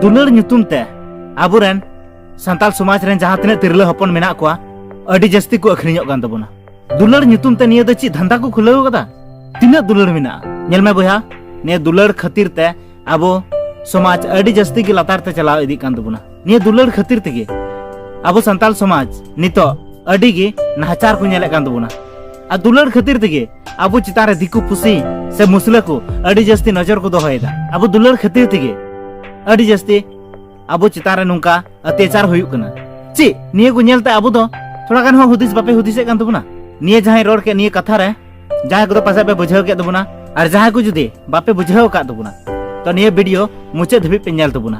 ᱫᱩᱞᱟᱹᱲ ᱧᱩᱛᱩᱢ ᱛᱮ ᱟᱵᱚᱨᱮᱱ ᱥᱟᱱᱛᱟᱲ ᱥᱚᱢᱟᱡᱽ ᱨᱮᱱ ᱡᱟᱦᱟᱸ ᱛᱤᱱᱟᱹᱜ ᱛᱤᱨᱞᱟᱹ ᱦᱚᱯᱚᱱ ᱢᱮᱱᱟᱜ ᱠᱚᱣᱟ ᱟᱹᱰᱤ ᱡᱟᱹᱥᱛᱤ ᱠᱚ ᱟᱹᱠᱷᱨᱤᱧᱚᱜ ᱠᱟᱱ ᱛᱟᱵᱚᱱᱟ ᱫᱩᱞᱟᱹᱲ ᱧᱩᱛᱩᱢ ᱛᱮ ᱱᱤᱭᱟᱹ ᱫᱚ ᱪᱮᱫ ᱫᱷᱟᱱᱫᱟ ᱠᱚ ᱠᱷᱩᱞᱟᱹᱣ ᱠᱟᱫᱟ ᱛᱤᱱᱟᱹᱜ ᱫᱩᱞᱟᱹᱲ ᱢᱮᱱᱟᱜᱼᱟ ᱧᱮᱞ ᱢᱮ ᱵᱚᱭᱦᱟ ᱱᱤᱭᱟᱹ ᱫᱩᱞᱟᱹᱲ ᱠᱷᱟᱹᱛᱤᱨ ᱛᱮ ᱟᱵᱚ ᱥᱚᱢᱟᱡᱽ ᱟᱹᱰᱤ ᱡᱟᱹᱥᱛᱤ ᱜᱮ ᱞᱟᱛᱟᱨ ᱛᱮ ᱪᱟᱞᱟᱣ ᱤᱫᱤᱜ ᱠᱟᱱ ᱛᱟᱵᱚᱱᱟ ᱱᱤᱭᱟᱹ ᱫᱩᱞᱟᱹᱲ ᱠᱷᱟᱹᱛᱤᱨ ᱛᱮᱜᱮ ᱟᱵᱚ ᱥᱟᱱᱛᱟᱲ ᱥᱚᱢᱟᱡᱽ ᱱᱤᱛᱚᱜ ᱟᱹᱰᱤ ᱜᱮ ᱱᱟᱦᱟᱪᱟᱨ ᱠᱚ ᱧᱮᱞᱮᱫ ᱠᱟᱱ ᱛᱟᱵᱚᱱᱟ ᱟᱨ ᱫᱩᱞᱟᱹᱲ ᱠᱷᱟᱹᱛᱤᱨ ᱛᱮᱜᱮ ᱟᱵᱚ ᱪᱮᱛᱟᱱ ᱨᱮ ᱫᱤᱠᱩ ᱯᱩᱥᱤ ᱥᱮ ᱢᱩᱥᱞᱟᱹ ᱠᱚ ᱟᱹᱰᱤ ᱡᱟᱹᱥᱛᱤ ᱱᱚᱡᱚᱨ ᱠᱚ ᱫᱚᱦᱚᱭᱮᱫᱟ ᱟᱵᱚ ᱫᱩᱞᱟᱹᱲ ᱠᱷᱟᱹᱛᱤᱨ ᱛᱮᱜᱮ ᱟᱹᱰᱤ ᱡᱟᱹᱥᱛᱤ ᱟᱵᱚ ᱪᱮᱛᱟᱱ ᱨᱮ ᱱᱚᱝᱠᱟ ᱚᱛᱭᱟᱪᱟᱨ ᱦᱩᱭᱩᱜ ᱠᱟᱱᱟ ᱪᱮᱫ ᱱᱤᱭᱟᱹ ᱠᱚ ᱧᱮᱞᱛᱮ ᱟᱵᱚ ᱫᱚ ᱛᱷᱚᱲᱟ ᱜᱟᱱ ᱦᱚᱸ ᱦᱩᱫᱤᱥ ᱵᱟᱯᱮ ᱦᱩᱫᱤᱥᱮᱫ ᱠᱟᱱ ᱛᱟᱵᱚᱱᱟ ᱱᱤᱭᱟᱹ ᱡᱟᱦᱟᱸᱭ ᱨᱚᱲ ᱠᱮᱫ ᱱᱤᱭᱟᱹ ᱠᱟᱛᱷᱟ ᱨᱮ ᱡᱟᱦᱟᱸᱭ ᱠᱚᱫᱚ ᱯᱟᱥᱮᱡ ᱯᱮ ᱵᱩᱡᱷᱟᱹᱣ ᱠᱮᱫ ᱛᱟᱵᱚᱱᱟ ᱟᱨ ᱡᱟᱦᱟᱸᱭ ᱠᱚ ᱡᱩᱫᱤ ᱵᱟᱯᱮ ᱵᱩᱡᱷᱟᱹᱣ ᱟᱠᱟᱫ ᱛᱟᱵᱚᱱᱟ ᱛᱚ ᱱᱤᱭᱟᱹ ᱵᱷᱤᱰᱤᱭᱳ ᱢᱩᱪᱟᱹᱫ ᱫᱷᱟᱹᱵᱤᱡ ᱯᱮ ᱧᱮᱞ ᱛᱟᱵᱚᱱᱟ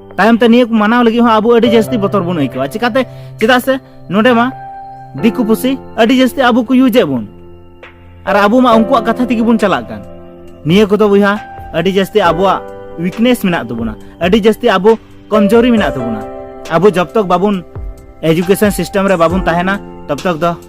ᱛᱟᱭᱚᱢ ᱛᱮ ᱱᱤᱭᱟᱹ ᱠᱚ ᱢᱟᱱᱟᱣ ᱞᱟᱹᱜᱤᱫ ᱦᱚᱸ ᱟᱵᱚ ᱟᱹᱰᱤ ᱡᱟᱹᱥᱛᱤ ᱵᱚᱛᱚᱨ ᱵᱚᱱ ᱟᱹᱭᱠᱟᱹᱣᱟ ᱪᱤᱠᱟᱛᱮ ᱪᱮᱫᱟᱜ ᱥᱮ ᱱᱚᱰᱮ ᱢᱟ ᱫᱤᱠᱩ ᱯᱩᱥᱤ ᱟᱹᱰᱤ ᱡᱟᱹᱥᱛᱤ ᱟᱵᱚ ᱠᱚ ᱤᱭᱩᱡᱮᱫ ᱵᱚᱱ ᱟᱨ ᱟᱵᱚ ᱢᱟ ᱩᱱᱠᱩᱣᱟᱜ ᱠᱟᱛᱷᱟ ᱛᱮᱜᱮ ᱵᱚᱱ ᱪᱟᱞᱟᱜ ᱠᱟᱱ ᱱᱤᱭᱟᱹ ᱠᱚᱫᱚ ᱵᱚᱭᱦᱟ ᱟᱹᱰᱤ ᱡᱟᱹᱥᱛᱤ ᱟᱵᱚᱣᱟᱜ ᱩᱭᱤᱠᱱᱮᱥ ᱢᱮᱱᱟᱜ ᱛᱟᱵᱚᱱᱟ ᱟᱹᱰᱤ ᱡᱟᱹᱥᱛᱤ ᱟᱵᱚ ᱠᱚᱢᱡᱳᱨᱤ ᱢᱮᱱᱟᱜ ᱛᱟᱵᱚᱱᱟ ᱟᱵᱚ ᱡᱚᱵ ᱛᱚᱠ ᱵᱟᱵᱚᱱ ᱮᱡᱩᱠᱮᱥᱚᱱ ᱥᱤᱥᱴᱮᱢ ᱨᱮ ᱵᱟᱵᱚᱱ ᱛᱟᱦᱮᱱᱟ ᱛᱚᱵ ᱛᱚᱠ ᱫᱚ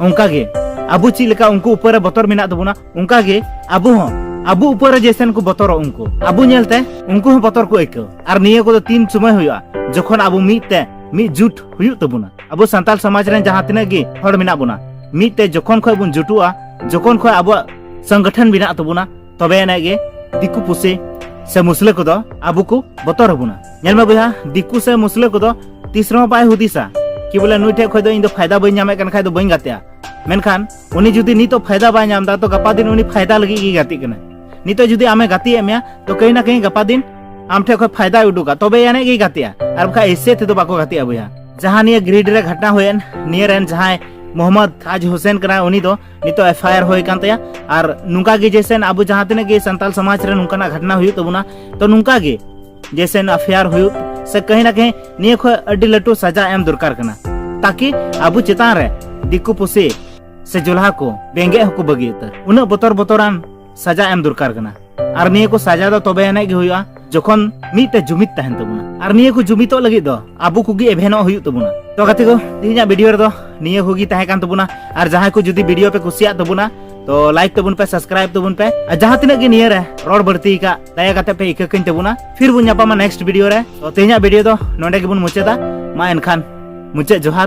ᱚᱱᱠᱟ ᱜᱮ ᱟᱵᱚ ᱪᱮᱫ ᱞᱮᱠᱟ ᱩᱱᱠᱩ ᱩᱯᱟᱹᱨ ᱨᱮ ᱵᱚᱛᱚᱨ ᱢᱮᱱᱟᱜ ᱛᱟᱵᱚᱱᱟ ᱚᱱᱠᱟ ᱜᱮ ᱟᱵᱚ ᱦᱚᱸ ᱟᱵᱚ ᱩᱯᱟᱹᱨ ᱨᱮ ᱡᱮᱥᱮᱱ ᱠᱚ ᱵᱚᱛᱚᱨᱚᱜ ᱩᱱᱠᱩ ᱟᱵᱚ ᱧᱮᱞᱛᱮ ᱩᱱᱠᱩ ᱦᱚᱸ ᱵᱚᱛᱚᱨ ᱠᱚ ᱟᱹᱭᱠᱟᱹᱣ ᱟᱨ ᱱᱤᱭᱟᱹ ᱠᱚᱫᱚ ᱛᱤᱱ ᱥᱚᱢᱚᱭ ᱦᱩᱭᱩᱜᱼᱟ ᱡᱚᱠᱷᱚᱱ ᱟᱵᱚ ᱢᱤᱫ ᱛᱮ ᱢᱤᱫ ᱡᱩᱴ ᱦᱩᱭᱩᱜ ᱛᱟᱵᱚᱱᱟ ᱟᱵᱚ ᱥᱟᱱᱛᱟᱲ ᱥᱚᱢᱟᱡᱽ ᱨᱮᱱ ᱡᱟᱦᱟᱸ ᱛᱤᱱᱟᱹᱜ ᱜᱮ ᱦᱚᱲ ᱢᱮᱱᱟᱜ ᱵᱚᱱᱟ ᱢᱤᱫ ᱛᱮ ᱡᱚᱠᱷᱚᱱ ᱠᱷᱚᱱ ᱵᱚᱱ ᱡᱩᱴᱩᱜᱼᱟ ᱡᱚᱠᱷᱚᱱ ᱠᱷᱚᱱ ᱟᱵᱚᱣᱟᱜ ᱥᱚᱝᱜᱚᱴᱷᱚᱱ ᱢᱮᱱᱟᱜ ᱛᱟᱵᱚᱱᱟ ᱛᱚᱵᱮ ᱟᱱᱟᱜ ᱜᱮ ᱫᱤᱠᱩ ᱯᱩᱥᱤ ᱥᱮ ᱢᱩᱥᱞᱟᱹ ᱠᱚᱫᱚ ᱟᱵᱚ ᱠᱚ ᱵᱚᱛᱚᱨ ᱟᱵᱚᱱᱟ ᱧᱮᱞ ᱢᱮ ᱵᱚᱭᱦᱟ ᱫᱤᱠᱩ ᱥᱮ ᱢᱩᱥᱞᱟᱹ ᱠᱚᱫᱚ ᱛᱤᱥ ᱨᱮᱦᱚᱸ ᱵᱟᱭ ᱦᱩᱫᱤᱥᱟ ᱠᱤ ᱵᱚᱞᱮ ᱱᱩᱭ ᱴᱷᱮᱡ ᱠᱷᱚᱡ ᱫᱚ ᱤᱧ ᱫᱚ ᱯᱷᱟᱭᱫᱟ ᱵᱟᱹᱧ ᱧᱟᱢᱮᱫ ᱠᱟᱱ ᱠᱷᱟᱡ ᱫᱚ ᱵᱟᱹᱧ ᱜᱟᱛᱮᱜᱼᱟ ᱢᱮᱱᱠᱷᱟᱱ ᱩᱱᱤ ᱡᱩᱫᱤ ᱱᱤᱛᱚᱜ ᱯᱷᱟᱭᱫᱟ ᱵᱟᱭ ᱧᱟᱢ ᱮᱫᱟ ᱛᱚ ᱜᱟᱯᱟ ᱫᱤᱱ ᱩᱱᱤ ᱯᱷᱟᱭᱫᱟ ᱞᱟᱹᱜᱤᱫ ᱜᱮ ᱜᱟᱛᱮᱜ ᱠᱟᱱᱟ ᱱᱤᱛᱚᱜ ᱡᱩᱫᱤ ᱟᱢᱮ ᱜᱟᱛᱮᱭᱮᱫ ᱢᱮᱭᱟ ᱛᱚ ᱠᱟᱹᱦᱤ ᱱᱟ ᱠᱟᱹᱦᱤ ᱜᱟᱯᱟ ᱫᱤᱱ ᱟᱢ ᱴᱷᱮᱡ ᱠᱷᱚᱡ ᱯᱷᱟᱭᱫᱟᱭ ᱩᱰᱩᱠᱟ ᱛᱚᱵᱮ ᱟᱹᱱᱤᱡ ᱜᱮ ᱜᱟᱛᱮᱜᱼᱟ ᱟᱨ ᱵᱟᱠᱷᱟᱡ ᱮᱥᱮ ᱛᱮᱫᱚ ᱵᱟᱠᱚ ᱜᱟᱛᱮᱜᱼᱟ ᱵᱚᱭᱦᱟ ᱡᱟᱦᱟᱸ ᱱᱤᱭᱟᱹ ᱜᱨᱤᱰ ᱨᱮ ᱜᱷᱚᱴᱱᱟ ᱦᱩᱭᱮᱱ ᱱᱤᱭᱟᱹ ᱨᱮᱱ ᱡᱟᱦᱟᱸᱭ ᱢᱚᱦᱚᱢᱢᱚᱫ ᱛᱟᱡᱽ ᱦᱩᱥᱮᱱ ᱠᱟᱱᱟ ᱩᱱᱤ ᱫᱚ ᱱᱤᱛᱚᱜ ᱮᱯᱷ ᱟᱭ ᱟᱨ ᱦᱩᱭ ᱠᱟᱱ ᱛᱟᱭᱟ ᱟᱨ ᱱᱚᱝᱠᱟ ᱜᱮ ᱡᱮᱥᱮ ᱟᱵᱚ ᱡᱟᱦᱟᱸ ᱛᱤᱱᱟᱹᱜ ᱜᱮ ᱥᱟᱱᱛᱟᱞ ᱥᱚᱢᱟᱡᱽ ᱨᱮ ᱱᱚᱝᱠᱟᱱᱟᱜ ᱜᱷᱚᱴᱱᱟ ᱦᱩᱭᱩᱜ ᱛᱟᱵᱚᱱᱟ ᱛᱚ ᱱᱚᱝᱠᱟ ᱜᱮ ᱡᱮᱥᱮ ᱮᱯᱷ ᱟᱭ ᱟᱨ ᱦᱩᱭᱩᱜ ᱥᱮ ᱠᱟᱹᱦᱤ ᱱᱟ ᱠᱟᱹᱦᱤ ᱱᱤᱭᱟᱹ ᱠᱷᱚᱡ ᱟᱹᱰᱤ ᱞᱟᱹᱴᱩ ᱥᱟᱡᱟ ᱮᱢ ᱫᱚᱨᱠᱟᱨ ᱠᱟᱱᱟ ᱛᱟᱠᱤ ᱟᱵᱚ ᱪᱮᱛᱟᱱ ᱨᱮ ᱫᱤᱠᱩ ᱯᱩᱥᱤ ᱥᱮ ᱡᱚᱞᱦᱟ ᱠᱚ ᱨᱮᱸᱜᱮᱡ ᱦᱚᱸᱠᱚ ᱵᱟᱹᱜᱤ ᱩᱛᱟᱹᱨ ᱩᱱᱟᱹᱜ ᱵᱚᱛᱚᱨ ᱵᱚᱛᱚᱨᱟᱱ ᱥᱟᱡᱟ ᱮᱢ ᱫᱚᱨᱠᱟᱨ ᱠᱟᱱᱟ ᱟᱨ ᱱᱤᱭᱟᱹ ᱠᱚ ᱥᱟᱡᱟ ᱫᱚ ᱛᱚᱵᱮ ᱟᱹᱱᱤᱡ ᱜᱮ ᱦᱩᱭᱩᱜᱼᱟ ᱡᱚᱠᱷᱚᱱ ᱢᱤᱫᱴᱮᱱ ᱡᱩᱢᱤᱫ ᱛᱟᱦᱮᱱ ᱛᱟᱵᱚᱱᱟ ᱟᱨ ᱱᱤᱭᱟᱹ ᱠᱚ ᱡᱩᱢᱤᱫᱚᱜ ᱞᱟᱹᱜᱤᱫ ᱫᱚ ᱟᱵᱚ ᱠᱚᱜᱮ ᱮᱵᱷᱮᱱᱚᱜ ᱦᱩᱭᱩᱜ ᱛᱟᱵᱚᱱᱟ ᱛᱚ ᱜᱟᱛᱮ ᱠᱚ ᱛᱮᱦᱮᱧᱟᱜ ᱵᱷᱤᱰᱤᱭᱳ ᱨᱮᱫᱚ ᱱᱤᱭᱟᱹ ᱠᱚᱜᱮ ᱛᱟᱦᱮᱸ ᱠᱟᱱ ᱛᱟᱵᱚᱱᱟ ᱟᱨ ᱡᱟᱦᱟᱸᱭ ᱠᱚ ᱡᱩᱫᱤ ᱵᱷᱤᱰᱤᱭᱳ ᱯᱮ ᱠᱩᱥᱤᱭᱟᱜ ᱛᱟᱵᱚᱱᱟ ᱛᱚ ᱞᱟᱭᱤᱠ ᱛᱟᱵᱚᱱ ᱯᱮ ᱥᱟᱵᱥᱠᱨᱟᱭᱤᱵ ᱛᱟᱵᱚᱱ ᱯᱮ ᱟᱨ ᱡᱟᱦᱟᱸ ᱛᱤᱱᱟᱹᱜ ᱜᱮ ᱱᱤᱭᱟᱹ ᱨᱮ ᱨᱚᱲ ᱵᱟᱹᱲᱛᱤ ᱟᱠᱟᱫ ᱫᱟᱭᱟ ᱠᱟᱛᱮ ᱯᱮ ᱤᱠᱟᱹ ᱠᱟᱹᱧ ᱛᱟᱵᱚᱱᱟ ᱯᱷᱤᱨ ᱵᱚᱱ ᱧᱟᱯᱟᱢᱟ ᱱᱮᱠᱥᱴ ᱵᱷᱤᱰᱤᱭᱳ ᱨᱮ ᱛᱚ ᱛᱮᱦᱮᱧᱟᱜ ᱵᱷᱤᱰᱤᱭᱳ ᱫᱚ ᱱᱚᱰᱮ ᱜᱮᱵᱚᱱ ᱢᱩᱪᱟᱹᱫᱟ ᱢᱟ ᱮᱱᱠᱷᱟᱱ ᱢᱩᱪᱟᱹᱫ ᱡᱚᱦᱟᱨ